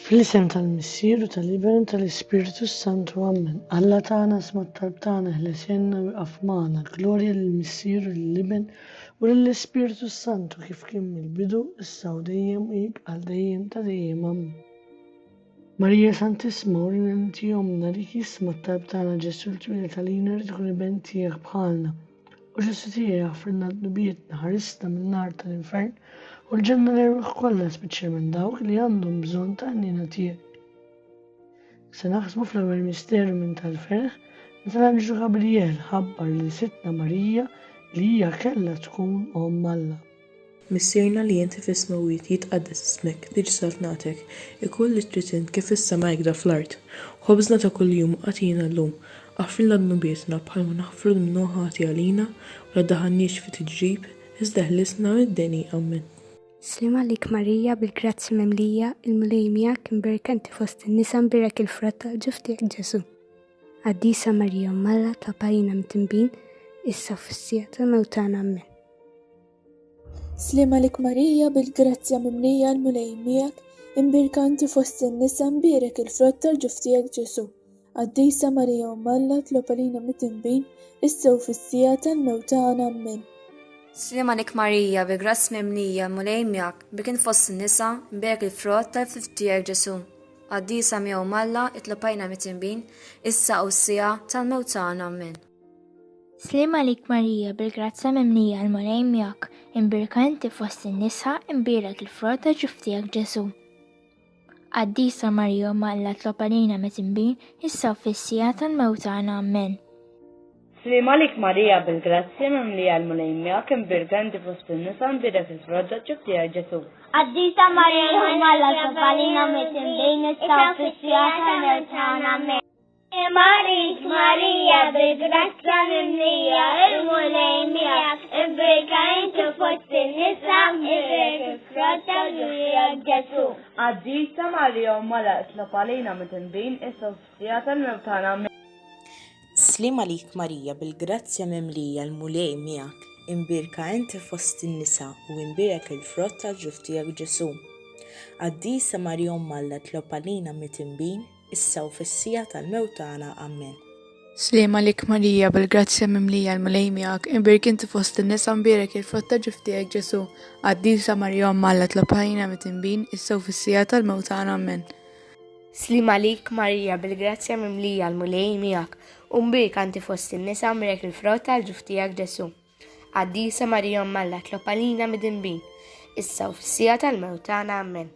Fl-isem tal-Missier u tal-Iben u tal-Ispirtu Santu Amen. Alla tagħna sma' talb tagħna ħlesenna u jqaf magħna. Glorja lill-Missier u lill-Iben u lill-Ispirtu Santu kif kien mill-bidu, issa u dejjem u jibqa' dejjem ta' dejjem. Amen. Marija Santissima u l-Inti Omna li jisma' talb tagħna Ġesu l-Twiled għalina rid ikun iben tiegħek bħalna. U Ġesu tiegħi aħfrilna d-dnubietna, ħarisna min-nar tal-infern, u l-ġenna l-erwieħ kollha speċjalment dawk li għandhom bżonn ta' għnina tiegħek. Se naħsbu fl-ewwel misteru minn tal-ferħ meta l-Anġlu Gabriel ħabbar lil Sidtna Marija li hija kellha tkun Omm Alla. Missierna li inti fis-smewwiet jitqaddes ismek, tiġi saltnatek, ikun li trid int kif fis-sema hekk da fl-art. Ħobżna ta' kuljum agħtina llum. Aħfrilna dnubietna bħalma naħfru lil min hu ħati għalina, u la ddaħħalniex fi tiġrib, iżda ħlisna mid-deni. Ammen. Sliem għalik Marija bil-grazzji mimlija, il-Mulej miegħek, imberka inti fost in-nisa mbierek il-frott tal-ġuf tiegħek Ġesù. Qaddisa Marija Omm Alla, tlab għalina mitinbin, issa u fis-siegħa tal-mewt tagħna. Ammen. Slim għalik Marija bil-grazzja mimlija l-Mulej miegħek, imbierka inti fost in-nisa mbierek il-frott tal-ġuf tiegħek Ġesù. Qaddisa Marija Omm Alla tlob għalina mid-dinbin issa u fis-siegħa tal-mewt tagħna. Ammen. Slim għalik Marija bil-grazzja mimlija l-Mulej miegħek, bik int fost in-nisa, mbierek il-frott tal-ġuf tiegħek Ġesù. Qaddisa Mija Omm Alla tlob għalina mid-dinbin issa u s-siegħa tal-mewt tagħna. Ammen. Sliem għalik Marija bil-grazzja mimlija l-Mulej miegħek, imbierka inti fost in-nisa, imbierek il-frott ta' ġuftijak Ġesù. Qaddisa Marija ma Alla tlob għalina met imbin, issa u fis-sija tal-mewt tagħna. Amen. Sliem għalik Marija bil-grazzja mimlija l-Mulej miegħek, imbierka inti fost in-nisa, imbierek il-frott ta' ġuftijak Ġesù. Qaddisa Marija ma Alla tlob għalina met imbin, issa u fis-sija tal-mewt tagħna. Amen. Marit Marija bil-grazzja mimlija il-Mulej miegħek, imbrika inti fost in-nisa, imbrik il-frott ta' ġurjek Ġesù. Qaddisa Marija Omm Alla itlob għalina midinbin issa u fis-siegħa tal-mewt tagħna. Amen. Sliem għalik Marija bil-grazzja mimlija l-Mulej miegħek, imbierka inti fost in-nisa u imbierek il-frott tal-ġuf tiegħek Ġesù. Qaddisa Marija Omm Alla itlob għalina midinbin. issa u fis-siegħa tal-mewt tagħna. Ammen. Sliem għalik Marija, bil-grazzja mimlija l-Mulej miegħek, inbierk inti fost in-nisa nbierek il-frott ta' ġuf tiegħek Ġesù. Qaddisa Marija Omm Alla tlob għalina mitinbin, issa u fis-siegħa tal-mewt tagħna. Ammen. Sliem għalik Marija, bil-grazzja mimlija l-Mulej miegħek, u nbierka inti fost in-nisa nbierek il-frott tal-ġuf tiegħek Ġesù. Qaddisa Marija Omm Alla tlob għalina midinbin, issa u fis-siegħa tal-mewt tagħna. Ammen.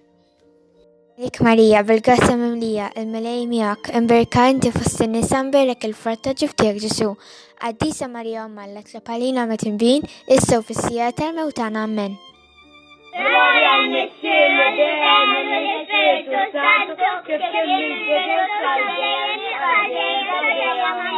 Nik Marija, bil-grazzja mimlija, il-Mulej miegħek, imberka inti fost in-nisa mberek il-frott ta' ġib tiegħek Ġesù. Qaddisa Marija Omm Alla tlob għalina midinbin, issa u fis-siegħa tal-mewt tagħna. Ammen. Gloria al Messie, la Dea, nella Spirito Santo, che per il Dio salve, salve, salve, salve,